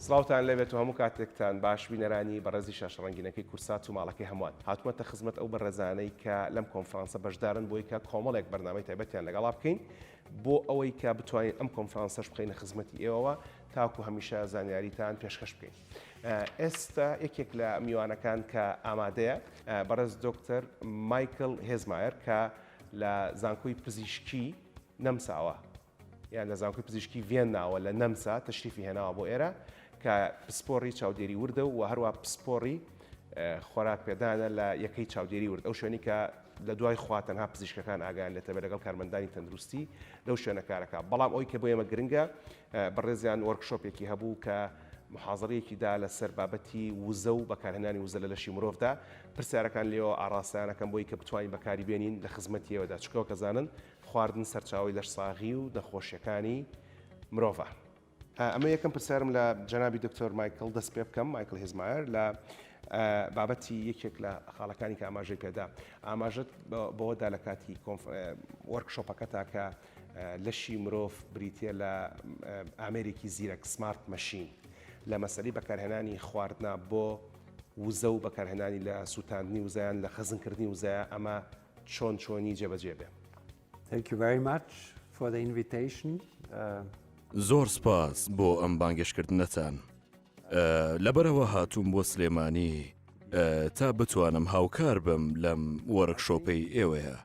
سڵاوتان لەبێت و هەموو کاتێکتان باش بینەرانی بەڕێزی شاش ڕەنگینەکەی کورسات و ماڵەکەی هەمووان هاتومەتە خزمەت ئەو بەڕێزانەی کە لەم کۆنفرانسە بەشدارن بۆی کە کۆمەڵێک بەرنامەی تایبەتیان لەگەڵا بکەین بۆ ئەوەی کە بتوانین ئەم کۆنفرانسەش بخینە خزمەتی ئێوەوە تاکو هەمیشە زانیاریتان پێشکەش بکەین. ئێستا یەکێک لە میوانەکان کە ئامادەیە بەڕێز دۆکتەر مایکل هێزمایەر کە لە زانکۆی پزیشکی نەمساوە یان لە زانکۆی پزیشکی ڤێنناوە لە نەمسا تەشریفی هێناوە بۆ ئێرە کە پسپۆڕی چاودێری وردە و هەروە پسپۆڕی خۆراک پێدانە لە یەکەی چاودێری ورد ئەو شوێنی کە لە دوای خوا تەنها پزیشکەکان ئاگیان لێتەبە لەگەڵ کارمەندانی تەندروستی لەو شوێنەکارەکە بەڵام ئەوی کە بۆ ئێمە گرنگە بەڕێزیان وەرکشۆپێکی هەبوو کە موحازەرەیەکی دا لە سەر بابەتی وزە و بەکارهێنانی وزە لە لەشی مرۆڤ دا، پرسیارەکان لێوە ئاڕاستەیان ئەکەم بۆی کە بتوانین بەکاری بێنین لە خزمەتی ئێوە دا، چونکە وەک ئەزانن خواردن سەرچاوەی لەش ساغی و نەخۆشیەکانی مرۆڤە. ئەمە یەکەم پرسیارم لە جەنابی دکتۆر مایکڵ دەست پێ بکەم، مایکڵ هیزمایەر، لە بابەتی یەکێک لە خاڵەکانی کە ئاماژەی پێدا، ئاماژەت بەوە دا لە کاتی کۆنف، وۆرک شۆپەکەتا کە لەشی مرۆڤ بریتییە لە ئامێرێکی زیرەک، Smart Machine، لە مەسەلەی بەکارهێنانی خواردنە بۆ وزە و بەکارهێنانی لە سووتاندنی وزە یان لە خەزنکردنی وزەیە ئەمە چۆن چۆنی جێبەجێ بێ. Thank you very much for the invitation. زۆر سپاس بۆ ئەم بانگێشکردنەتان. لەبەرئەوە هاتووم بۆ سلێمانی تا بتوانم هاوکار بم لەم وۆرکشۆپەی ئێوەیە.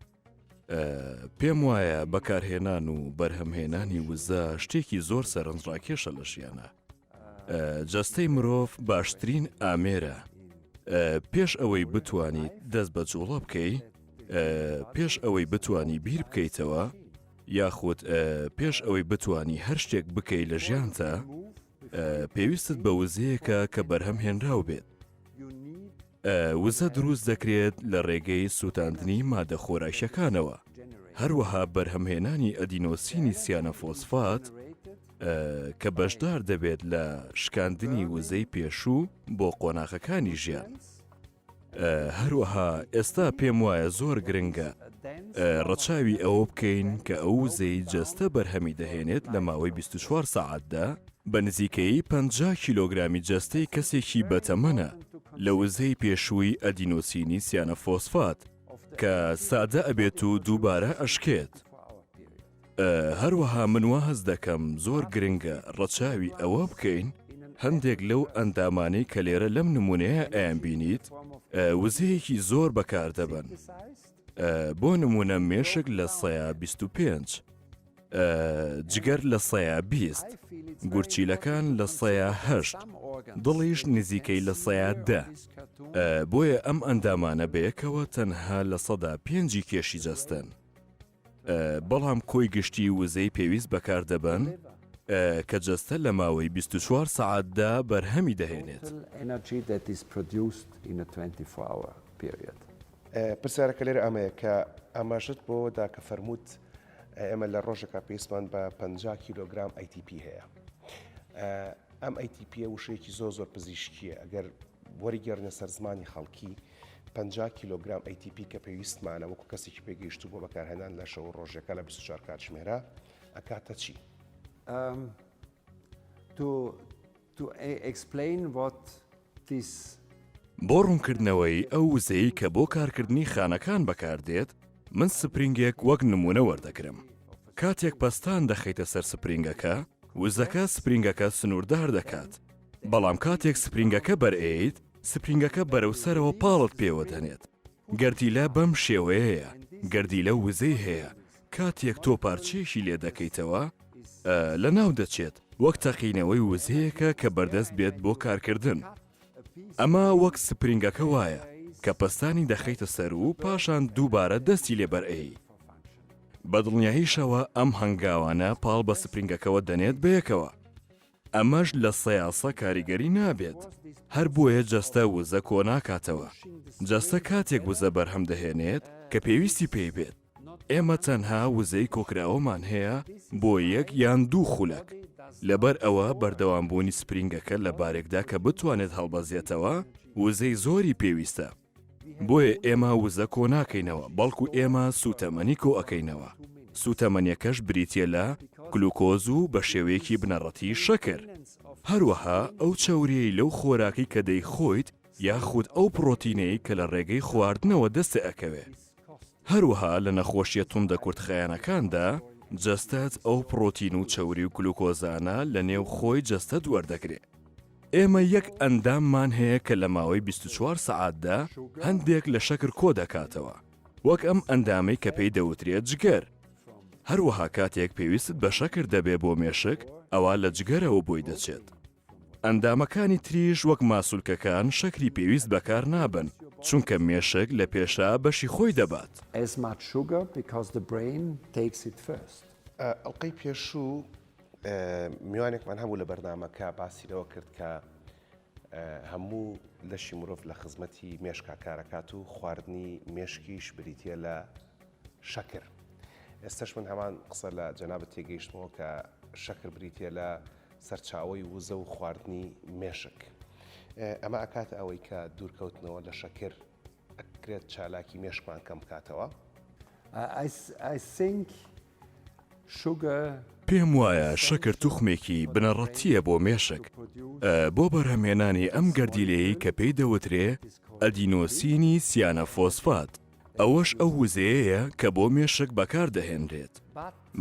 پێم وایە بەکارهێنان و بەرهەمهێنانی وزە شتێکی زۆر سەرنجڕاکێشە لە ژیانە جەستەی مرۆڤ باشترین ئامێرە پێش ئەوەی بتانی دەست بە جوڵە بکەی پێش ئەوەی بتانی بیر بکەیتەوە یاخود پێش ئەوەی بتانی هەر شتێک بکەی لە ژیانتە پێویستت بە وزەیەکە کە بەرهەم هێنراو بێت وزە دروست دەکرێت لە ڕێگەی سووتاندنی مادە خۆراکییەکانەوە، هەروەها بەرهەمهێنانی ئەدینۆسینی سیانەفۆسفات کە بەشدار دەبێت لە شکاندنی وزەی پێشوو بۆ قۆناغەکانی ژیان. هەروەها ئێستا پێم وایە زۆر گرنگە ڕەچاوی ئەوە بکەین کە ئەو وزەی جەستە بەرهەمی دەهێنێت لە ماوەی 24 سەعاتدا، بە نزیکەیی پەنجا کیلۆگرامی جەستەی کەسێکی بەتەمەنە لە وزەی پێشووی ئەدینۆسینی سیانەفۆسفات کە سادە ئەبێت و دووبارە ئەشکێت. هەروەها من وا هەست دەکەم زۆر گرنگە ڕەچاوی ئەوە بکەین هەندێک لەو ئەندامانەی کە لێرە لەم نموونەیە ئەیانبینیت وزەیەکی زۆر بەکاردەبەن بۆ نموونە مێشک لە سەیا بیست و پێنج. جگەر لە سەیە بیست، گورچیلەکان لە سەیە هەشت، دڵیش نزیکەی لە سەیە دە. بۆیە ئەم ئەندامانە بەیەکەوە تەنها لە سەدا پێنجی کێشی جەستەن. بەڵام کۆی گشتی وزەی پێویست بەکار دەبەن کە جەستە لە ماوەی 24 سەعاتدا بەرهەمی دەهێنێت. پرسیارەکە لێرە ئەمەیە کە ئاماژەت بۆوە دا کە فەرمووت ئێمە لە ڕۆژەکە پێستمان بە پەنجا کیلۆگرام ATP هەیە. ئەم ATP یە وشەیەکی زۆر زۆر پزیشکیە ئەگەر وەریگەڕنە سەر زمانی خەڵکی پەنجا کیلۆگرام ATP کە پێویستمانە وەکو کەسێکی پێگەیشتو بۆ بەکارهێنان لە شەو ڕۆژەکە لە 24 کاتژمێرە ئەکاتە چی؟ تۆ To explain what this. بۆ ڕوونکردنەوەی ئەو وزەی کە بۆ کارکردنی خانەکان بەکاردێت، من سپرینگێک وەک نموونە وەردەگرم. کاتێک پەستان دەخەیتە سەر سپرینگەکە، وزەکە سپرینگەکە سنووردار دەکات، بەڵام کاتێک سپرینگەکە بەرئەیەیت، سپرینگەکە بەرەو سەرەوە پاڵت پێوە دەنێت. گەردیلە بەم شێوەیەیە، گەردیلە وزەی هەیە، کاتێک تۆ پارچەیەکی لێ دەکەیتەوە لە ناو دەچێت وەک تەقینەوەی وزەیەکە کە بەردەست بێت بۆ کارکردن ئەمە وەک سپرینگەکە وایە کە پستانی دەخەیتە سەر و پاشان دووبارە دەستی لێبەرئەی بەدڵنیاییشەوە ئەم هەنگاوانە پاڵ بە سپرینگەکەەوە دەنێت بەیەکەوە ئەمەش لە سەیاسە کاریگەری نابێت، هەر بۆیە جەستە وزە کۆناکاتەوە، جەستە کاتێک وزە بەرهەم دەهێنێت کە پێویستی پێی بێت، ئێمە تەنها وزەی کۆکراوەمان هەیە بۆ یەک یان دوو خولەک، لەبەر ئەوە بەردەوامبوونی سپرینگەکە لە بارێکدا کە بتوانێت هەڵبەزێتەوە وزەی زۆری پێویستە. بۆیە ئێمە وزە کۆ ناکەینەوە بەڵکو ئێمە سووتەمەنی کۆ ئەکەینەوە سووتەمەنیەکەش بریتیە لە گلوکۆز و بە شێوەیەکی بنەڕەتی شەکر هەروەها ئەو چەوریەی لەو خۆراکی کە دەیخۆیت یاخود ئەو پڕۆتینەی کە لە ڕێگەی خواردنەوە دەستێ ئەکەوێ هەروەها لە نەخۆشییە توندە کورتخایەنەکاندا، جەستەت ئەو پڕۆتین و چەوری و گلوکۆزانە لە نێو خۆی جەستەت وەردەگرێ. ئێمە یەک ئەنداممان هەیە کە لە ماوەی بیست و چوار سەعاتدا هەندێک لە شەکر کۆ دەکاتەوە، وەک ئەم ئەندامەی کە پێی دەوترێ جگەر. هەروەها کاتێک پێویستت بە شەکر دەبێ بۆ مێشک، ئەوا لە جگەرەوە بۆی دەچێت. ئەندامەکانی تریش وەک ماسولکەکان شەکری پێویست بەکار نابەن چونکە مێشک لە پێشا بەشی خۆی دەبات. ئەڵقەی پێشوو میوانێکمان هەبوو لە بەرنامەکە باسی لەوە کرد کە هەموو لەشی مرۆڤ لە خزمەتی مێشکا کارەکات و خواردنی مێشکیش بریتیە لە شەکر. ئێستەش من هەمان قسە لە جەنابت تێگەیشتمەوە کە شەکر بریتیە لە سەرچاوەی وزە و خواردنی مێشک. ئەمە ئەکاتە ئەوەی کە دوورکەوتنەوە لە شەکر ئەکرێت چالاکی مێشکمان کەم بکاتەوە. I think sugar پێم وایە شەکر توخمێکی بنەڕەتییە بۆ مێشک بۆ بەرهەمهێنانی ئەم گەردیلەیەی کە پێی دەوترێ ئەدینۆسینی سیانەفۆسفات. ئەوەش ئەو وزەیەیە کە بۆ مێشک بەکاردەهێنرێت.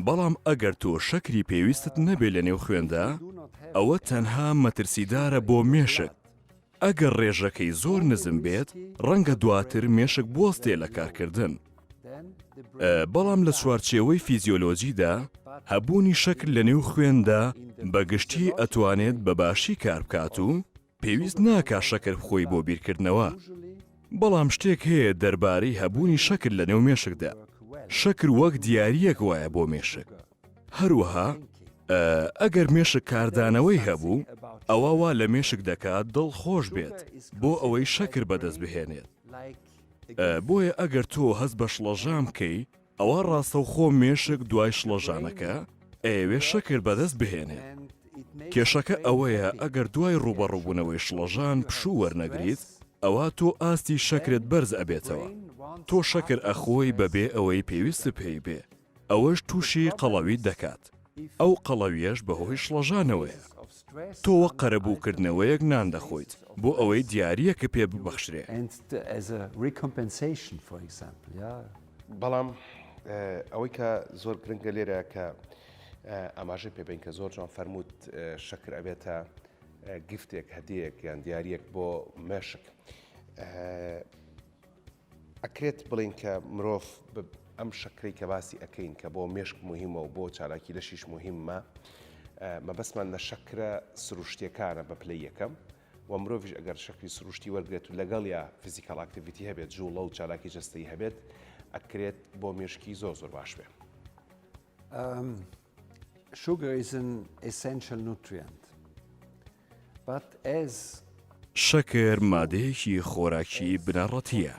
بەڵام ئەگەر تۆ شەکری پێویستت نەبێت لە نێو خوێندا، ئەوە تەنها مەترسیدارە بۆ مێشک. ئەگەر ڕێژەکەی زۆر نزم بێت، ڕەنگە دواتر مێشک بوەستێت لە کارکردن. بەڵام لە چوارچێوەی فیزیۆلۆجیدا، هەبوونی شەکر لە نێو خوێندا بە گشتی ئەتوانێت بە باشی کاربکات و، پێویست ناکا شەکر بخۆی بۆ بیرکردنەوە. بەڵام شتێک هەیە دەربارەی هەبوونی شەکر لەنێو مێشکدا، شەکر وەک دیارییەک وایە بۆ مێشک. هەروەها ئەگەر مێشک کاردانەوەی هەبوو، ئەوا وا لە مێشک دەکات دڵ خۆش بێت بۆ ئەوەی شەکر بەدەست بهێنێت. بۆیە ئەگەر تۆ هەست بە شڵەژان بکەی، ئەوە ڕاستەوخۆ مێشک دوای شڵەژانەکە ئەیەوێت شەکر بەدەست بهێنێت. کێشەکە ئەوەیە ئەگەر دوای ڕووبەڕووبوونەوەی شڵەژان پشوو وەرنەگریت، ئەوا تۆ ئاستی شەکرت بەرز ئەبێتەوە. تۆ شەکر ئەخۆی بەبێ ئەوەی پێویستت پێی بێ، ئەوەش تووشی قەڵەویت دەکات. ئەو قەڵەویەش بەهۆی شڵەژانەوەیە. تۆ وەک قەرەبووکردنەوەیەک نان دەخۆیت بۆ ئەوەی دیارییەکە پێ ببەخشرێ. بەڵام ئەوەی کە زۆر گرنگە لێرە کە ئاماژەی پێ بەین کە زۆر جوان فەرمووت شەکر ئەبێتە گفتێک، هەدیەیەک یان دیارییەک بۆ مێشک. ئەکرێت بڵێین کە مرۆڤ بە ئەم شەکرەی کە باسی ئەکەین کە بۆ مێشک موهیمە و بۆ چالاکی لەشیش موهیمە مەبەستمان لە شەکرە سروشتیەکانە بە پلەی یەکەم و مرۆڤش ئەگەر شەکری سروشتی وەرگێت و لەگەڵ یا فیزیکال ئاکتیڤیتی هەبێت جوڵە و چالاکی جستەی هەبێت ئەکرێت بۆ مێشکی زۆر زۆر باش بێت. Sugar is an essential nutrient, but as. شەکر مادەیەکی خۆراکی بنەڕەتییە،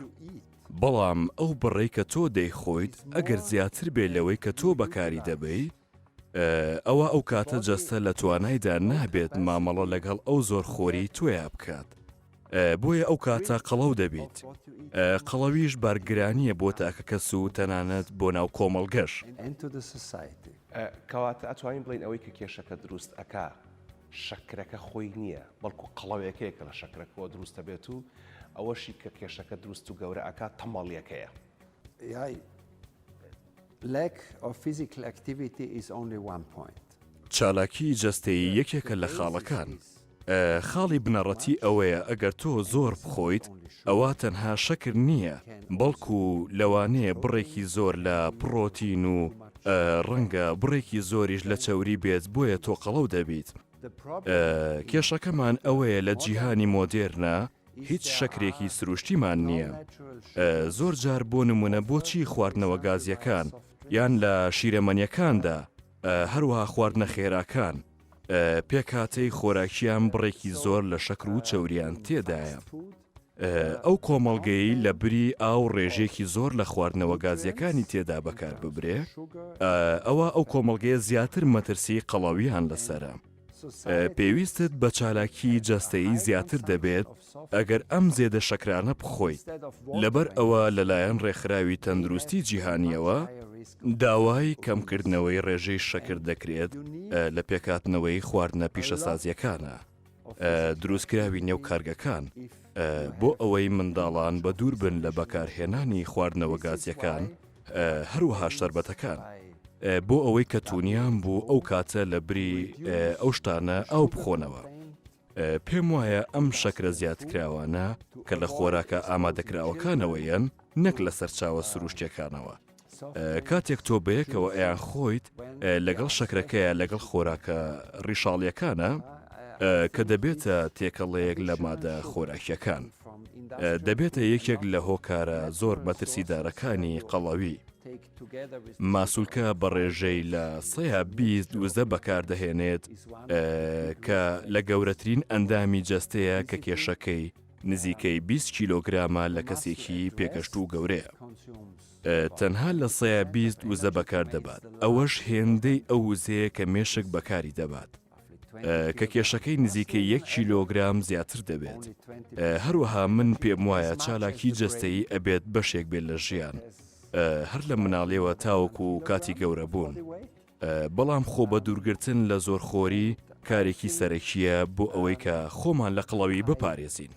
بەڵام ئەو بڕەی کە تۆ دەیخۆیت ئەگەر زیاتر بێت لەوەی کە تۆ بەکاری دەبەیت، ئەوا ئەو کاتە جەستە لە توانایدا نابێت مامەڵە لەگەڵ ئەو زۆرخۆریی تۆیا بکات. بۆیە ئەو کاتە قەڵەو دەبیت قەڵەویش بارگرانییە بۆ تاکەکەس و تەنانەت بۆ ناو کۆمەڵگەش. کەواتە ئەتوانین بڵێین ئەوەی کە کێشەکە دروست ئەکا شەکرەکە خۆی نییە بەڵکو قەڵەوێکەیە کە لە شەکرەکەوە دروست دەبێت و ئەوەشی کە کێشەکە دروست و گەورە ئەکا تەمەڵیەکەیە. Lack of physical activity is only one point. چالاکی جەستەیی یەکێکە لە خاڵەکان. خاڵی بنەڕەتی ئەوەیە ئەگەر تۆ زۆر بخۆیت ئەوا تەنها شەکر نییە بەڵکو لەوانەیە بڕێکی زۆر لە پڕۆتین و ڕەنگە بڕێکی زۆریش لە چەوری بێت بۆیە تۆقەڵەو دەبیت. کێشەکەمان ئەوەیە لە جیهانی مۆدێرنە هیچ شەکرێکی سروشتیمان نییە زۆر جار بۆ نمونە بۆچی خواردنەوە گازیەکان یان لە شیرەمەنیەکاندا هەروها خواردنە خێراکان پێکاتەی خۆراکیان بڕێکی زۆر لە شەکر و چەوریان تێدایە ئەو کۆمەڵگەی لە بری ئاو ڕێژێکی زۆر لە خواردنەوە گازیەکانی تێدا بەکار ببرێ ئەوە ئەو کۆمەڵگەیە زیاتر مەترسی قەڵاویان لەسرە پێویستت بە چالاکی جەستەیی زیاتر دەبێت ئەگەر ئەم زێدە شەکرانە بخۆیت، لەبەر ئەوە لەلایەن ڕێکخراوی تەندروستی جیهانییەوە داوای کەمکردنەوەی ڕێژەی شەکر دەکرێت لە پێکهاتنەوەی خواردنە پیشەسازیەکانە دروستکراوی نێو کارگەکان بۆ ئەوەی منداڵان بە دووربن لە بەکارهێنانی خواردنەوە گازیەکان هەروەها شەربەتەکان بۆ ئەوەی کە تونیام بوو ئەو کاتە لە بری ئەو شتانە ئاو بخۆنەوە پێم وایە ئەم شەکرە زیادکراوانە کە لە خۆراکە ئامادەکراوەکانەوە یەن نەک لە سەرچاوە سروشتەکانەوە کاتێک تۆ بەیەکەوە ئەیان خۆیت لەگەڵ شەکرەکەیە لەگەڵ خۆراکە ڕیشاڵیەکانە کە دەبێتە تێکەڵەیەک لە مادە خۆراکیەکان. دەبێتە یەکێک لە هۆکارە زۆر مەترسیدارەکانی قەڵەوی. ماسولکە بە ڕێژەی لە سەیا بیست وزە بەکاردەهێنێت کە لە گەورەترین ئەندامی جەستەیە کە کێشەکەی نزیکەی 20 کیلۆگرامە لە کەسێکی پێگەشت و گەورەیە. تەنها لە سەیا بیست وزە بەکار دەبات ئەوەش هێندەی ئەو وزەیە کە مێشک بەکاری دەبات. کە کێشەکەی نزیکەی یەک کیلۆگرام زیاتر دەبێت هەروەها من پێم وایە چالاکی جەستەیی ئەبێت بەشێک بێت لە ژیان هەر لە مناڵێەوە تاوەکو و کاتی گەورە بوون بەڵام خۆ بە دوورگرتن لە زۆر خۆری کارێکی سەرەکیە بۆ ئەوەی کە خۆمان لە قڵەوی بپارێزین.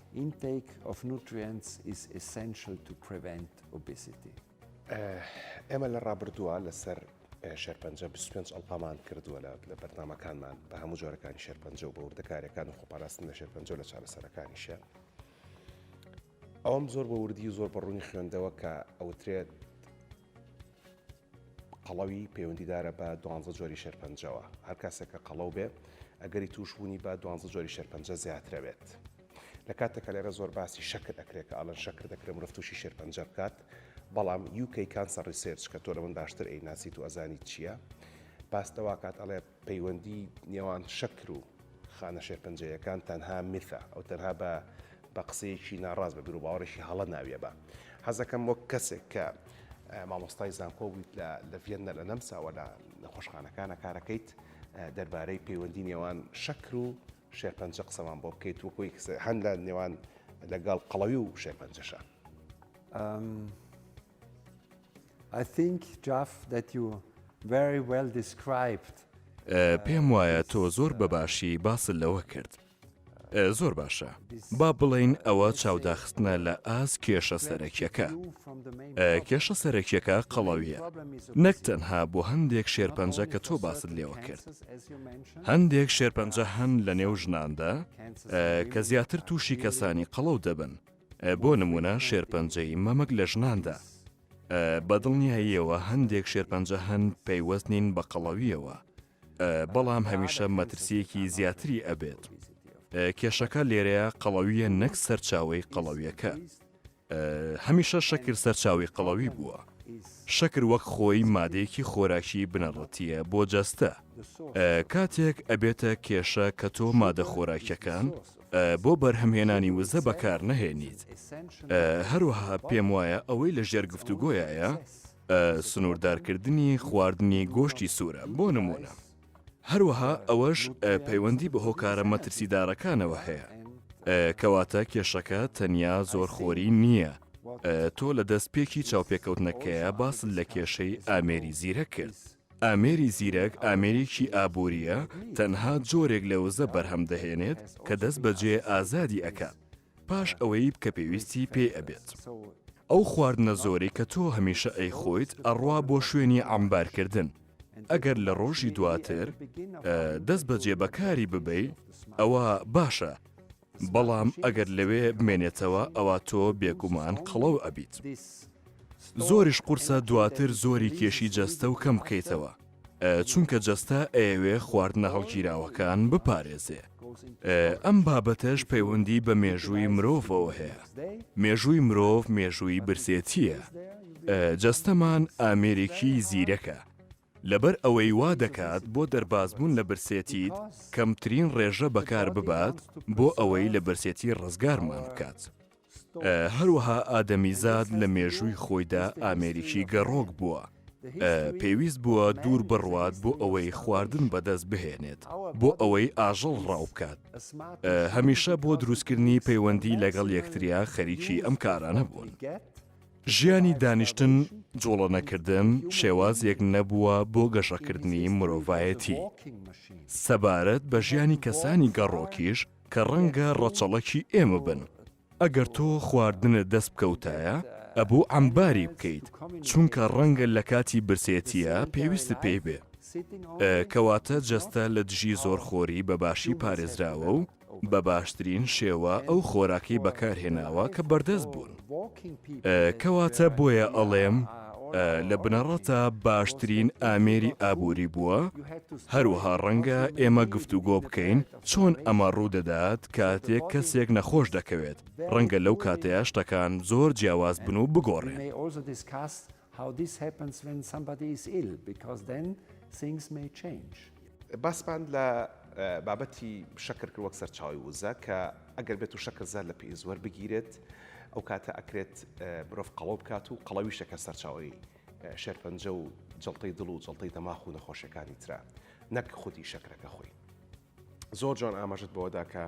ئێمە لە ڕابردووە لەسەر شێرپەنجە 25 ئەڵقەمان کردووە لە لە بەرنمەکانمان بە هەموو جۆرەکانی شێرپەنجە و بە وردەکارەکان و خۆپاراستن لە شێرپەنجە لە چارەسەرەکانیشە ئەوم زۆر بە وردی و زۆر بە ڕوونی خوێندەوە کە ئەوترێت قەڵەوی پەیوەندیدارە بە دوانزە جۆری شێرپەنجەوە هەر کاسێکە قەڵەو بێ ئەگەری توشبوونی بە دوانزە جۆری شێرپەنجە زیاترەوێت. لە کاتێکا لێرە زۆر باسی شەکر ئەکرێ کە ئەڵێن شەکر دەکرێ مرۆڤ تووشی شێرپەنجە بکات بەڵام UK Cancer Research کە تۆ لە من باشتر ئەی ناسیت و ئەزانیت چییە باس دەواکات ئەڵێ پەیوەندی نێوان شەکر و خانە شێرپەنجەیەکان تەنها میثە ئەو تەنها بە بە قسەیەکی ناڕاست بە بیرو باوەڕێکی هەڵە ناویە بە حەزەکەم وەک کەسێک کە مامۆستای زانکۆ بوویت لە لە ڤێنە لە نەمساوە لە نەخۆشخانەکانە کارەکەیت دەربارەی پەیوەندی نێوان شەکر و شێرپەنجە قسەمان بۆ بکەیت وەکو یەک قسە هەن لە نێوان لەگەڵ قەڵەوی و شێرپەنجەشە. I think Jeff that you very well described. پێم وایە تۆ زۆر بەباشی باست لەوە کرد. زۆر باشە با بڵین ئەوە چاوداخستنە لە ئاز کێشە سەرەکیەکە کێشە سەرەکیەکە قەڵەویە نەک تەنها بۆ هەندێک شێرپەنجە کە تۆ باست لێوە کرد هەندێک شێرپەنجە هەن لە نێو ژناندا کە زیاتر تووشی کەسانی قەڵەو دەبن بۆ نمونە شێرپەنجەی مەمک لە ژناندا بە دڵنیاییەوە هەندێک شێرپەنجە هەن پەیوەست نین بە قەڵەویەوە بەڵام هەمیشە مەترسیەکی زیاتری ئەبێت کێشەکە لێرەیە قەڵەویە نەک سەرچاوی قەڵەویەکە هەمیشە شەکر سەرچاوەی قەڵەوی بووە. شەکر وەک خۆی مادەیەکی خۆراکی بنەڕەتییە بۆ جەستە. کاتێک ئەبێتە کێشە کە تۆ مادە خۆراکیەکان بۆ بەرهەمهێنانی وزە بەکار نەهێنیت. هەروەها پێم وایە ئەوەی لە ژێر گفتوگۆیایە سنووردارکردنی خواردنی گۆشتی سوورە بۆ نموونە. هەروەها ئەوەش پەیوەندی بە هۆکارە مەترسیدارەکانەوە هەیە. کەواتە کێشەکە تەنیا زۆرخۆری نییە. تۆ لە دەست پێکی چاوپێکەوتنەکەیە باست لە کێشەی ئامێری زیرەک کرد. ئامێری زیرەک ئامێرێکی ئابوورییە، تەنها جۆرێک لە وزە بەرهەم دەهێنێت کە دەست بەجێ ئازادی ئەکات. پاش ئەوەی بکە پێویستی پێی ئەبێت. ئەو خواردنە زۆرەی کە تۆ هەمیشە ئەیخۆیت ئەڕوا بۆ شوێنی عەمبار کردن ئەگەر لە ڕۆژی دواتر دەست بەجێ بەکاری ببەی ئەوا باشە بەڵام ئەگەر لەوێ بمێنێتەوە ئەوا تۆ بێگومان قەڵەو ئەبیت زۆریش قورسە دواتر زۆری کێشی جەستە و کەم بکەیتەوە. چونکە جەستە ئەیەوێ خواردنە هەڵگیراوەکان بپارێزێ ئەم بابەتەش پەیوەندی بە مێژووی مرۆڤەوە هەیە مێژووی مرۆڤ مێژووی برسێتیە جەستەمان ئامێرێکی زیرەکە لەبەر ئەوەی وا دەکات بۆ دەربازبوون لە برسێتیت کەمترین ڕێژە بەکار ببات بۆ ئەوەی لە برسێتی ڕزگارمان بکات هەروەها ئادەمیزاد لە مێژووی خۆیدا ئامێریکی گەڕۆک بووە، پێویست بووە دوور بڕوات بۆ ئەوەی خواردن بەدەست بهێنێت، بۆ ئەوەی ئاژەڵ ڕاو بکات، هەمیشە بۆ دروستکردنی پەیوەندی لەگەڵ یەکتریا خەریکی ئەم کارانە بوون. ژیانی دانیشتن، جوڵەنەکردن شێوازێک نەبووە بۆ گەشەکردنی مرۆڤایەتی. سەبارەت بە ژیانی کەسانی گەڕۆکیش، کە ڕەنگە ڕەچەڵەکی ئێمە بن. ئەگەر تۆ خواردنت دەست بکەوتایە ئەبوو عەمباری بکەیت چونکە ڕەنگە لە کاتی برسێتیە پێویستت پێی بێ. کەواتە جەستە لە دژی زۆرخۆری بە باشی پارێزراوە و بە باشترین شێوە ئەو خۆراکەی بەکار هێناوە کە بەردەست بوون. کەواتە بۆیە ئەڵێم لە بنەڕەتە باشترین ئامێری ئابووری بووە. هەروەها ڕەنگە ئێمە گفتوگۆ بکەین چۆن ئەمە ڕوودەدات کاتێک کەسێک نەخۆش دەکەوێت، ڕەنگە لەو کاتەیا شتەکان زۆر جیاواز بن و بگۆڕێن. باسمان لە بابەتی شەکر کرد وەک سەرچاوەی وزە کە ئەگەر بێت و شەکر زیاد لە پێویست وەربگیرێت ئەو کاتە ئەکرێت مرۆڤ قەڵەو بکات و قەڵەویشە کە سەرچاوەی شێرپەنجە و جەڵتەی دڵ و جەڵتەی دەماخ و نەخۆشیەکانی ترە نەک خودی شەکرەکە خۆی زۆر جوان ئاماژت بەوەدا کە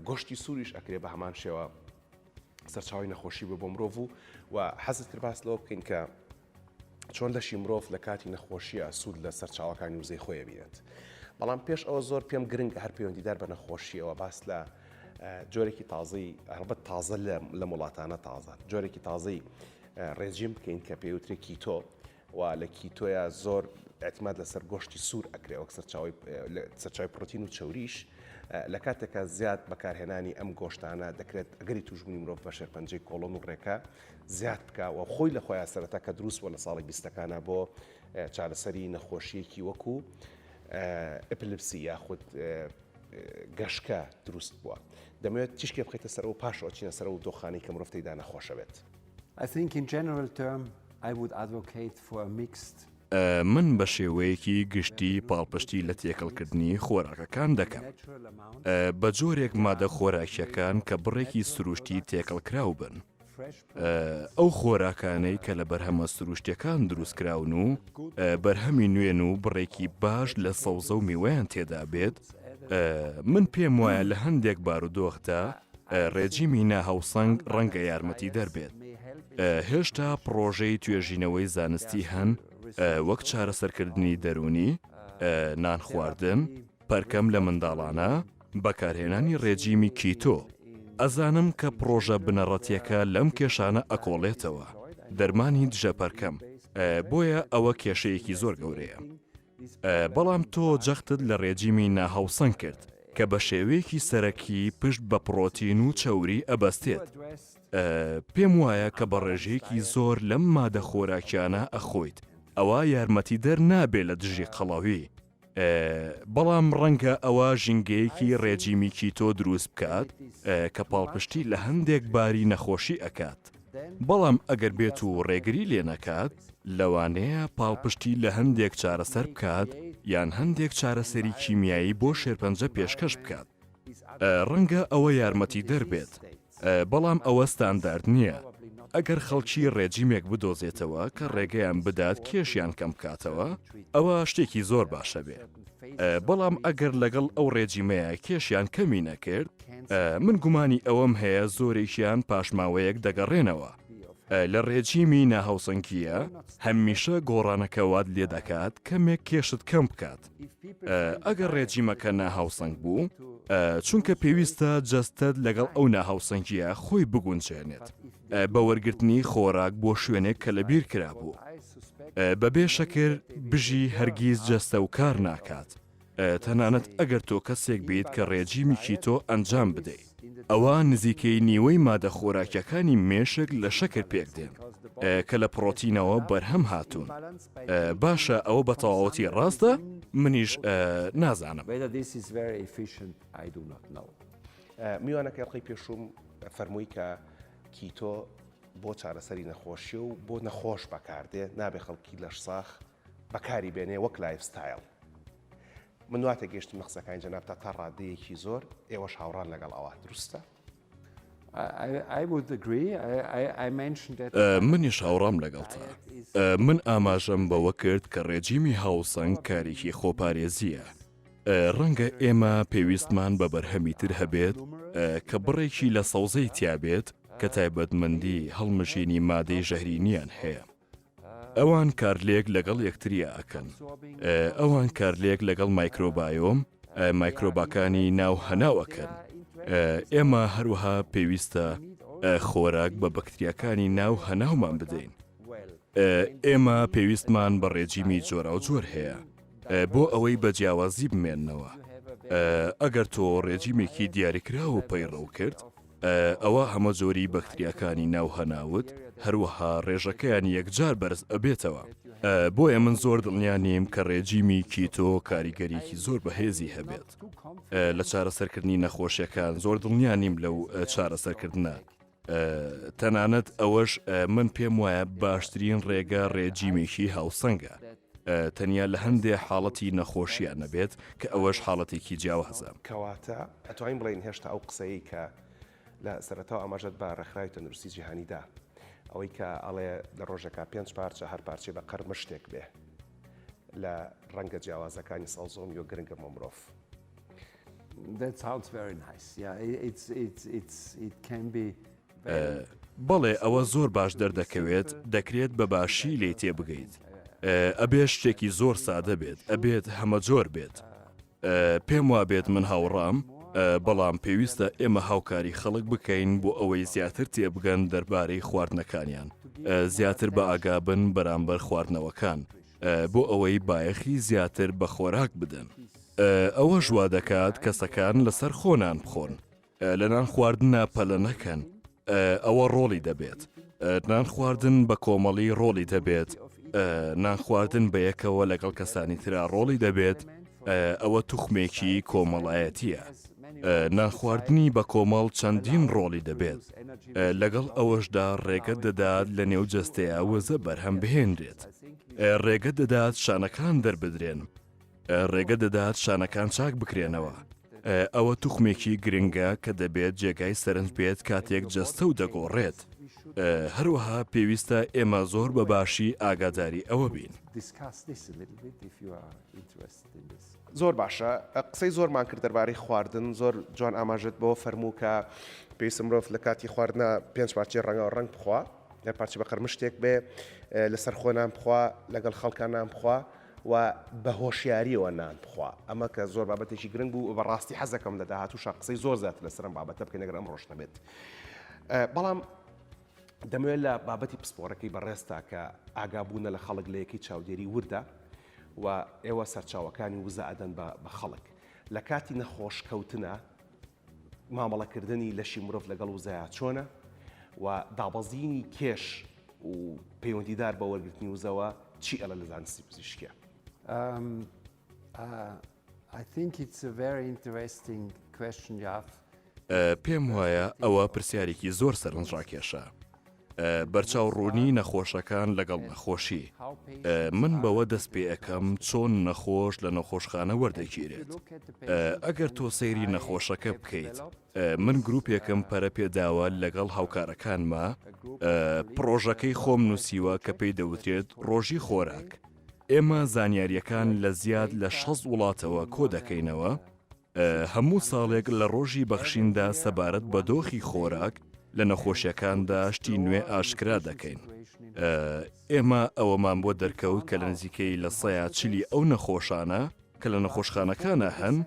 گۆشتی سووریش ئەکرێ بە هەمان شێوە سەرچاوی نەخۆشی بە بۆ مرۆڤ و و حەزت کرد باس لەوە بکەین کە چۆن لەشی مرۆڤ لە کاتی نەخۆشیە سوود لە سەرچاوەکانی وزەی خۆیە بینێت بەڵام پێش ئەوە زۆر پێم گرنگ هەر پەیوەندیدار بە نەخۆشیەوە باس لە جۆرێکی تازەی هەڵبەت تازە لە وڵاتانە تازە جۆرێکی تازەی ڕێجیم بکەین کە پێی وترێ کیتۆ و لە کیتۆیا زۆر ئەتماد لەسەر گۆشتی سوور ئەکرێ وەک سەرچاوی پرۆتین و چوریش لە کاتێکە زیاد بەکارهێنانی ئەم گۆشتانە دەکرێت ئەگەری توشبوونی مرۆڤ بە شێرپەنجەی کۆڵۆن و ڕێکە زیاد بکە و خۆی لە خۆیان سەرەتا کە دروست بۆ لە ساڵی بیستەکانە بۆ چارەسەری نەخۆشیەکی وەکو ئەپلپسی یاخود گەشکە دروست بووە دەمەوێت تیشکێ بخیتە سەر و پاش ئۆچینە سەر و دۆخانی کە مرۆڤ تێدا نەخۆشە بێت. I think in general term I would advocate for a mixed من بە شێوەیەکی گشتی پاڵپشتی لە تێکەڵکردنی خۆراکەکان دەکەم بە جۆرێک مادە خۆراکیەکان کە بڕێکی سروشتی تێکەڵکراو بن ئەو خۆراکانەی کە لە بەرهەمە سروشتیەکان دروست کراون و بەرهەمی نوێن و بڕێکی باش لە سەوزە و میوەیان تێدا بێت من پێم وایە لە هەندێک بارودۆخدا ڕێجیمی ناهاوسەنگ ڕەنگە یارمەتی دەربێت هێشتا پڕۆژەی توێژینەوەی زانستی هەن وەک چارەسەرکردنی دەرونی نان خواردن پرکم لە منداڵانە، بەکارهێنانی ڕێجیمی کیتۆ. ئەزانم کە پڕۆژە بنەڕەتیەکە لەم کێشانە ئەکۆڵێتەوە، دەرمانی دژە پرکم، بۆیە ئەوە کێشەیەکی زۆر گەورەیە. بەڵام تۆ جەختت لە ڕێجیمی ناهاوسەنگ کرد کە بە شێوەیەکی سەرەکی پشت بە پڕۆتین و چەوری ئەبەستێت. پێم وایە کە بە ڕێژەیەکی زۆر لەم مادە خۆراکیانە ئەخۆیت ئەوا یارمەتیدەر نابێت لە دژی قەڵەوی. بەڵام ڕەنگە ئەوە ژینگەیەکی ڕێجیمی کیتۆ دروست بکات کە پاڵپشتی لە هەندێک باری نەخۆشی ئەکات، بەڵام ئەگەر بێت و ڕێگری لێ نەکات، لەوانەیە پاڵپشتی لە هەندێک چارەسەر بکات یان هەندێک چارەسەری کیمیایی بۆ شێرپەنجە پێشکەش بکات. ڕەنگە ئەوە یارمەتیدەر بێت. بەڵام ئەوە ستاندارد نییە. ئەگەر خەڵکی ڕێجیمێک بدۆزێتەوە کە ڕێگەیان بدات کێشیان کەم بکاتەوە، ئەوە شتێکی زۆر باشە بێ. بەڵام ئەگەر لەگەڵ ئەو ڕێجیمەیە کێشیان کەمی نەکرد، من گومانی ئەوەم هەیە زۆرێکیان پاشماوەیەک دەگەڕێنەوە. لە ڕێجیمی ناهاوسەنگییە هەمیشە گۆڕانەکە وات لێ دەکات کەمێک کێشت کەم بکات. ئەگەر ڕێجیمەکە ناهاوسەنگ بوو، چونکە پێویستە جەستەت لەگەڵ ئەو ناهاوسەنگییە خۆی بگونجێنێت بە وەرگرتنی خۆراک بۆ شوێنێک کە لە بیر کرابوو بەبێ شەکر بژی هەرگیز جەستە و کار ناکات تەنانەت ئەگەر تۆ کەسێک بیت کە ڕێجیمیکی تۆ ئەنجام بدەیت. ئەوا نزیکەی نیوەی مادە خۆراکیەکانی مێشک لە شەکر پێک دێن کە لە پڕۆتینەوە بەرهەم هاتوون باشە ئەوە بە تەواوەتی ڕاستە منیش نازانم. میوانەکەی ئەڵقەی پێشووم فەرمووی کە کیتۆ بۆ چارەسەری نەخۆشیە و بۆ نەخۆش بەکاردێ نابێ خەڵکی لەشساخ بەکاری بێنێ وەک لایف ستایل. من دوات تێگەشتم لە قسەکانی جەنابتا تا ڕادەیەکی زۆر ئێوەش هاوڕان لەگەڵ ئەوە دروستە؟ منیش هاوڕام لەگەڵتە من ئاماژەم بەوە کرد کە ڕێجیمی هاوسەنگ کارێکی خۆپارێزیە ڕەنگە ئێمە پێویستمان بە بەرهەمی تر هەبێت کە بڕێکی لە سەوزەی تیابێت کە تایبەتمەندی هەڵمژینی مادەی ژەهرینیان هەیە ئەوان کارلێک لەگەڵ یەکتریا ئەکەن ئەوان کارلێک لەگەڵ مایکرۆبایۆم مایکرۆباکانی ناو هەناو ئەکەن ئێمە هەروەها پێویستە خۆراک بە بەکتریاکانی ناو هەناومان بدەین ئێمە پێویستمان بە ڕێجیمی جۆرا و جۆر هەیە بۆ ئەوەی بە جیاوازی بمێنەوە ئەگەر تۆ ڕێجیمێکی دیاریکراوە پەیڕەو کرد ئەوا هەمە جۆری بەکتریاکانی ناو هەناوت هەروەها ڕێژەکەیان یەکجار بەرز ئەبێتەوە بۆیە من زۆر دڵنیا نیم کە ڕێجیمی کیتۆ کاریگەریکی زۆر بەهێزی هەبێت لە چارەسەرکردنی نەخۆشیەکان زۆر دڵنیا نیم لەو چارەسەرکردە تەنانەت ئەوەش من پێم وایە باشترین ڕێگە ڕێجیمێکی هاوسەنگە تەنیا لە هەندێ حاڵەتی نەخۆشییە نەبێت، کە ئەوەش حاڵەتێکی جیاوازە. کەواتە ئەتوانین بڵێین هێشتا ئەو قسەیەی کە لە سەرەتاوە ئاماژەت بە ڕێکخراوی تەندروستی جیهانی دا، ئەوەی کە ئەڵێ لە ڕۆژێکا پێنج پارچە، هەر پارچەی بە قەر مشتێک بێ لە ڕەنگە جیاوازەکانی سەوزۆمی و گرنگە بۆ مرۆڤ. بەڵێ ئەوە زۆر باش دەردەکەوێت دەکرێت بە باشی لێی تێبگەیت ئەبێ شتێکی زۆر سادە بێت ئەبێت هەمە جۆر بێت پێم وابێت من هاوڕام بەڵام پێویستە ئێمە هاوکاری خەڵک بکەین بۆ ئەوەی زیاتر تێبگەن دەربارەی خواردنەکانیان زیاتر بە ئاگابن بەرامبەر خواردنەوەکان بۆ ئەوەی بایەخی زیاتر بە خۆراک بدەن ئەوە ژوا دەکات کەسەکان لەسەر خۆنان بخۆن لە نان خواردنا پەلە نەکەن ئەوە ڕۆڵی دەبێت نان خواردن بە کۆمەڵی ڕۆڵی دەبێت نان خواردن بە یەکەوە لەگەڵ کەسانی تررا ڕۆڵی دەبێت ئەوە توخمێکی کۆمەڵایەتیە نانخواردنی بە کۆمەڵ چەندین ڕۆڵی دەبێت لەگەڵ ئەوەشدا ڕێگە دەدات لە نێو جەستەیە وەزە بەرهەم بهێنرێت ڕێگە دەدات شانەکان دەربدرێن ڕێگە دەدات شانەکان چاک بکرێنەوە. ئەوە توخمێکی گرنگە کە دەبێت جێگای سەرنج بێت کاتێک جەستە و دەگۆڕێت. هەروەها پێویستە ئێمە زۆر بە باشی ئاگاداری ئەوە بین. زۆر باشە قسەی زۆرمان کرد دەربارەی خواردن زۆر جوان ئاماژەت بەوە فەرموو کە پێویستە مرۆڤ لە کاتی خواردنا پێنج پارچەی ڕەنگاو ڕەنگ بخوا یان پارچە بە قەرمشتێک بێ لەسەر خۆ نان بخوا لەگەڵ خەڵکان نان بخوا و بە هۆشیاریەوە نان بخوا ئەمە کە زۆر بابەتێکی گرنگ بوو بە ڕاستی حەزەکەم لە داهاتووشا قسەی زۆر زیاتر لە سەرم بابەتە بکەین نەگەر ئەم ڕۆژ نەبێت بەڵام دەمەوێت لە بابەتی پسپۆرەکەی بەڕێستا کە ئاگابوونە لە خەڵک لە یەکەی چاودێری وردە و ئێوە سەرچاوەکانی وزە ئەدەن بە خەڵک لە کاتی نەخۆش کەوتنە مامەڵەکردنی لەشی مرۆڤ لەگەڵ وزەیا چۆنە و دابەزینی کێش و پەیوەندیدار بە وەرگرتنی وزەوە چی ئەڵە لە زانستی پزیشکە؟ پێم وایە ئەوە پرسیارێکی زۆر سەرنجڕاکێشە. بەرچاو ڕوونی نەخۆشەکان لەگەڵ نەخۆشی من بەوە دەست پێ ئەەکەم چۆن نەخۆش لە نەخۆشخانە وەردەگیرێت ئەگەر تۆ سەیری نەخۆشەکە بکەیت من گروپێکم پەرە پێداوە لەگەڵ هاوکارەکانمە پرۆژەکەی خۆم نووسیوە کە پێی دەوترێت ڕۆژی خۆراک ئێمە زانیاریەکان لە زیاد لە شەست وڵاتەوە کۆ دەکەینەوە هەموو ساڵێک لە ڕۆژی بەخشیندا سەبارەت بە دۆخی خۆراک لە نەخۆشیەکاندا شتی نوێ ئاشکرا دەکەین. ئێمە ئەوەمان بۆ دەرکەوت کە لە نزیکەی لە سەیا چلی ئەو نەخۆشانە کە لە نەخۆشخانەکانە هەن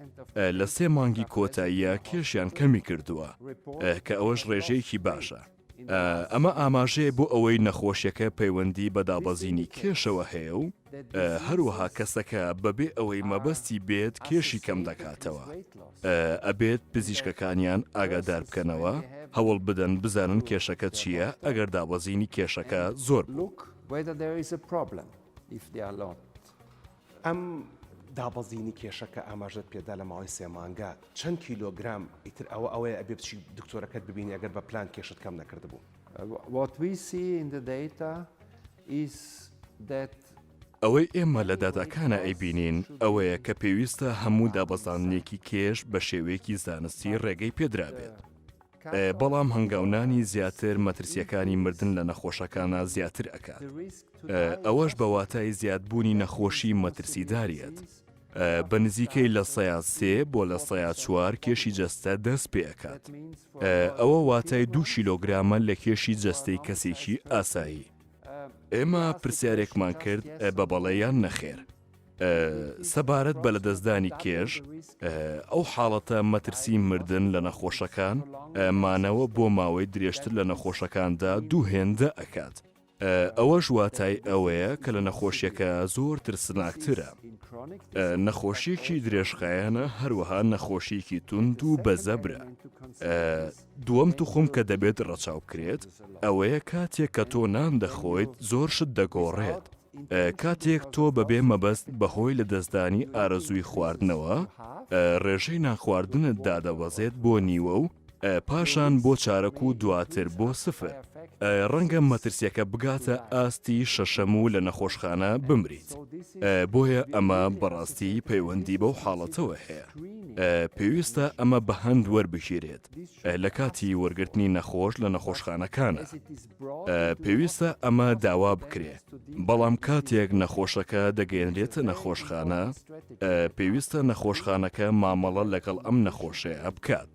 لە سێ مانگی کۆتاییە کێشیان کەمی کردووە کە ئەوەش ڕێژەیەکی باشە. ئەمە ئاماژەیە بۆ ئەوەی نەخۆشیەکە پەیوەندی بە دابەزینی کێشەوە هەیە و هەروەها کەسەکە بەبێ ئەوەی مەبەستی بێت کێشی کەم دەکاتەوە ئەبێت پزیشکەکانیان ئاگادار بکەنەوە هەوڵ بدەن بزانن کێشەکە چییە ئەگەر دابەزینی کێشەکە زۆر بوو. ئەم دابەزینی کێشە کە ئاماژەت پێدا لە ماوەی سێ مانگە چەند کیلۆگرام ئیتر ئەوە ئەوەیە ئەبێ بچی دکتۆرەکەت ببینی ئەگەر بە پلان کێشت کەم نەکردبوو. What we see in the data is that ئەوەی ئێمە لە داتاکانا ئەیبینین ئەوەیە کە پێویستە هەموو دابەزاندنێکی کێش بە شێوەیەکی زانستی ڕێگەی پێدرابێت. بەڵام هەنگاونانی زیاتر مەترسیەکانی مردن لە نەخۆشەکانا زیاتر ئەکات ئەوەش بە واتای زیادبوونی نەخۆشی مەترسیداریەت بە نزیکەی لە سەیات سێ بۆ لە سەیات چوار کێشی جەستە دەست پێکات ئەوە واتای دوو کیلۆگرامە لە کێشی جەستەی کەسێکی ئاسایی ئێمە پرسیارێکمان کرد بە بەڵێ یان نەخێر سەبارەت بە لەدەستدانی کێش، ئەو حاڵەتە مەترسی مردن لە نەخۆشەکان، مانەوە بۆ ماوەی درێژتر لە نەخۆشەکاندا دوو هێندە ئەکات. ئەوەش واتای ئەوەیە کە لە نەخۆشیەکە زۆر ترسناکترە. نەخۆشیەکی درێژخایەنە هەروەها نەخۆشیەکی تونند و بەزەبرە. دووەم توخم کە دەبێت ڕەچاو بکرێت ئەوەیە کاتێک کە تۆ نان دەخۆیت زۆر شت دەگۆڕێت کاتێک تۆ بەبێ مەبەست بەهۆی لە دەستدانی ئارەزووی خواردنەوە ڕێژەی نانخواردنت دادەبەزێت بۆ نیوە و پاشان بۆ چارەک و دواتر بۆ سفر ڕەنگە مەترسیەکە بگاتە ئاستی شەشەم و لە نەخۆشخانە بمریت بۆیە ئەمە بەڕاستی پەیوەندی بەو حاڵەتەوە هەیە. پێویستە ئەمە بە هەند وەربگیرێت لە کاتی وەرگرتنی نەخۆش لە نەخۆشخانەکانە. پێویستە ئەمە داوا بکرێت، بەڵام کاتێک نەخۆشەکە دەگەێنرێتە نەخۆشخانە، پێویستە نەخۆشخانەکە مامەڵە لەگەڵ ئەم نەخۆشەیە بکات.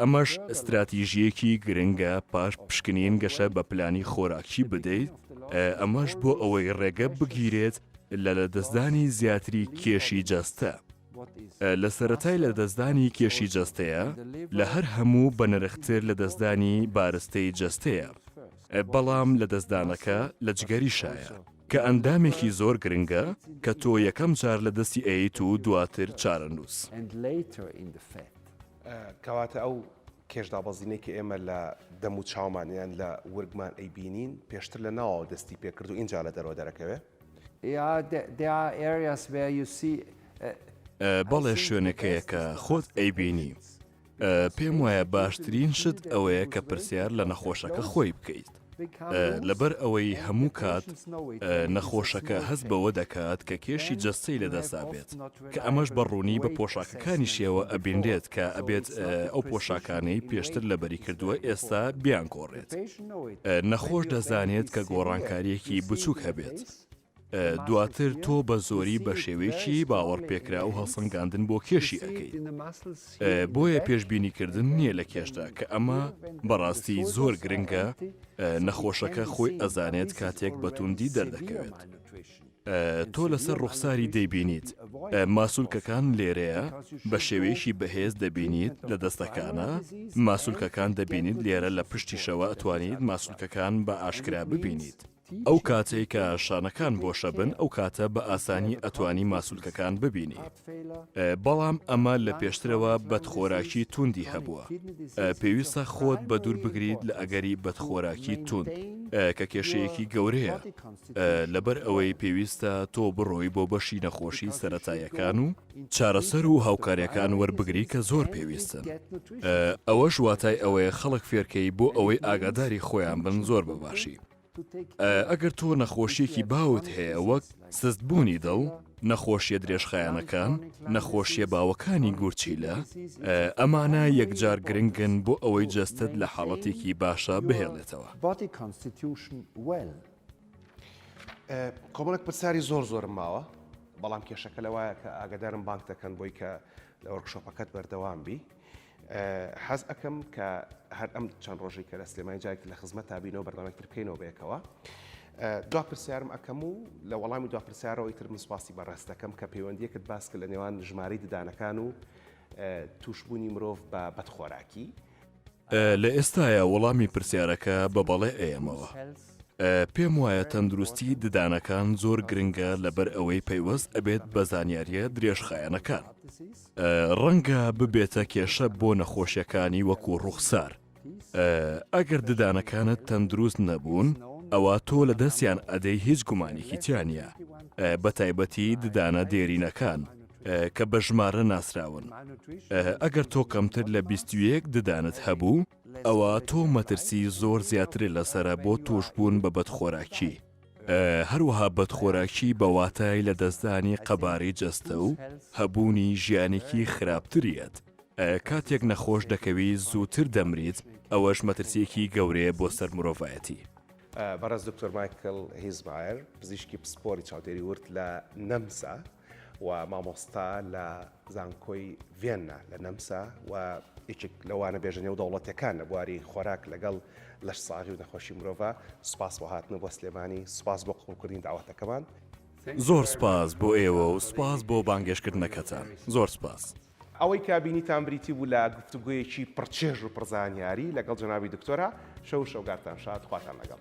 ئەمەش ستراتیژیەکی گرنگە پاش پشکنین گەشە بە پلانی خۆراکی بدەیت، ئەمەش بۆ ئەوەی ڕێگە بگیرێت لە لەدەستدانی زیاتری کێشی جەستە. لە سەرەتای لەدەستدانی کێشی جەستەیە، لە هەر هەموو بەنرختر لەدەستدانی بارستەی جەستەیە، بەڵام لەدەستدانەکە لە جگەریشایە، کە ئەندامێکی زۆر گرنگە کە تۆ یەکەم جار لەدەستی ئەیەیت و دواتر چارەنووس. کەواتە ئەو کێش دابەزینەی کە ئێمە لە دەم و چاومان یان لە ورگمان ئەیبینین پێشتر لە ناوەوە دەستی پێکرد و ئینجا لە دەرەوە دەرەکەوێت. بەڵێ شوێنەکەیە کە خۆت ئەیبینی. پێم وایە باشترین شت ئەوەیە کە پرسیار لە نەخۆشەکە خۆی بکەیت. لەبەر ئەوەی هەموو کات نەخۆشەکە هەست بەوە دەکات کە کێشی جەستەی لەدەستدا بێت. کە ئەمەش بە ڕوونی بە پۆشاکەکانیشیەوە ئەبینرێت کە ئەبێت ئەو پۆشاکانەی پێشتر لەبەری کردووە ئێستا بیانگۆڕێت نەخۆش دەزانێت کە گۆڕانکاریەکی بچووک هەبێت دواتر تۆ بە زۆری بە شێوەیەکی باوەڕ پێکرا و هەڵسەنگاندن بۆ کێشی ئەەکەی بۆیە پێشببینیکردن نییە لە کێشدا کە ئەمە بەڕاستی زۆر گرنگە نەخۆشەکە خۆی ئەزانێت کاتێک بەتوندی دەردەکەوێت. تۆ لەسەر ڕوخساری دەیبینیت ماسولکەکان لێرەیە بە شێوەیەکی بەهێز دەبینیت لە دەستەکانە ماسولکەکان دەبینیت لێرە لە پشتیشەوە ئەتوانیت ماسولکەکان بە ئاشکرا ببینیت ئەو کاتەی کە شانەکان بۆشە بن ئەو کاتە بە ئاسانی ئەتوانی ماسولکەکان ببینی بەڵام ئەمە لە پێشترەوە بەدخۆراکی توندی هەبووە پێویستە خۆت بە دوور بگریت لە ئەگەری بەدخۆراکی تون کە کێشەیەکی گەورەیە لەبەر ئەوەی پێویستە تۆ بڕۆی بۆ بەشی نەخۆشی سەتاییەکان و چارەسەر و هاوکاریەکان وەربگری کە زۆر پێویستن ئەوەش واتای ئەوەیە خەڵک فێرکەی بۆ ئەوەی ئاگاداری خۆیان بن زۆر بەباشی ئەگەر تۆ نەخۆشیەکی باوت هەیە وەک سستبوونی دڵ نەخۆشیە درێژخایەنەکان نەخۆشیە باوەکانی گورچیلە ئەمانە یەکجار گرنگن بۆ ئەوەی جەستت لە حاڵەتێکی باشە بهێڵێتەوە. کۆمەڵک پرسیاری زۆر زۆرم ماوە بەڵام کێشەکە لە وایە کە ئاگدارم بانک دەکەن بۆی کە لە وەرکشۆپەکەت بەردەوام بی حەز ئەەکەم کە هەر ئەم چەند ڕۆژی کە لە سلێمانی جایک لە خزمەت تابینەوە بەردەمێکتر بکەینەوە بەیەکەوە دو پرسیارم ئەەکەم و لە وەڵامی دو پرسیارەوەی تر من سپاسی بەڕێز دەکەم کە پەیوەندیەکت باسکە لە نێوان ژماری ددانەکان و توشببوونی مرۆڤ بە بەدخۆراکی لە ئێستایا وەڵامی پرسیارەکە بە بەڵێ ئەیەمەوە. پێم وایە تەندروستی ددانەکان زۆر گرنگە لەبەر ئەوەی پەیوەست ئەبێت بە زانیارییە درێژخایەنەکان. ڕەنگە ببێتە کێشە بۆ نەخۆشیەکانی وەکو ڕووخسار. ئەگەر ددانەکانت تەندروست نەبوون، ئەوا تۆ لەدەستیان ئەدەی هیچ گومانێکی تیا نییە، بەتایبەتی ددانە دێرینەکان. کە بە ژمارە ناسراون ئەگەر تۆ کەمتر لە بیستویەک ددانت هەبوو ئەوە تۆ مەترسی زۆر زیاترێ لەسرە بۆ توشبوون بە بەدخۆراکی هەروەها بەدخۆراکی بەواتای لە دەستدانی قەبارەی جەستە و هەبوونی ژیانێکی خراپتریت کاتێک نەخۆش دەکەوی زووتر دەمریت ئەوەش مەترسیەکی گەورەیە بۆ سەر مرۆڤایەتی. بەڕێز دکتۆر مایکل هیزمایر پزیشکی پسپۆری چاودێری ورد لە نەمسا، و مامۆستا لە زانکۆی ڤێننا لە نەمسا و یەکێک لە وانەبێژە نێودەوڵەتیەکان لە بواری خۆراک لەگەڵ لەشساغی و نەخۆشی مرۆڤ سوپاس بۆ هاتنە بۆ سلێمانی سوپاس بۆ قبوڵکردنی داوەتەکەمان. زۆر سوپاس بۆ ئێوە و سوپاس بۆ بانگێشکردنەکەتان. زۆر سوپاس. ئەوەی کە بینیتان بریتی بوو لە گفتوگۆیەکی پڕ چێژ و پڕ زانیاری لەگەڵ جەنابی دکتۆرە، شەو و شەوگارتان شاد، خواتان لەگەڵ.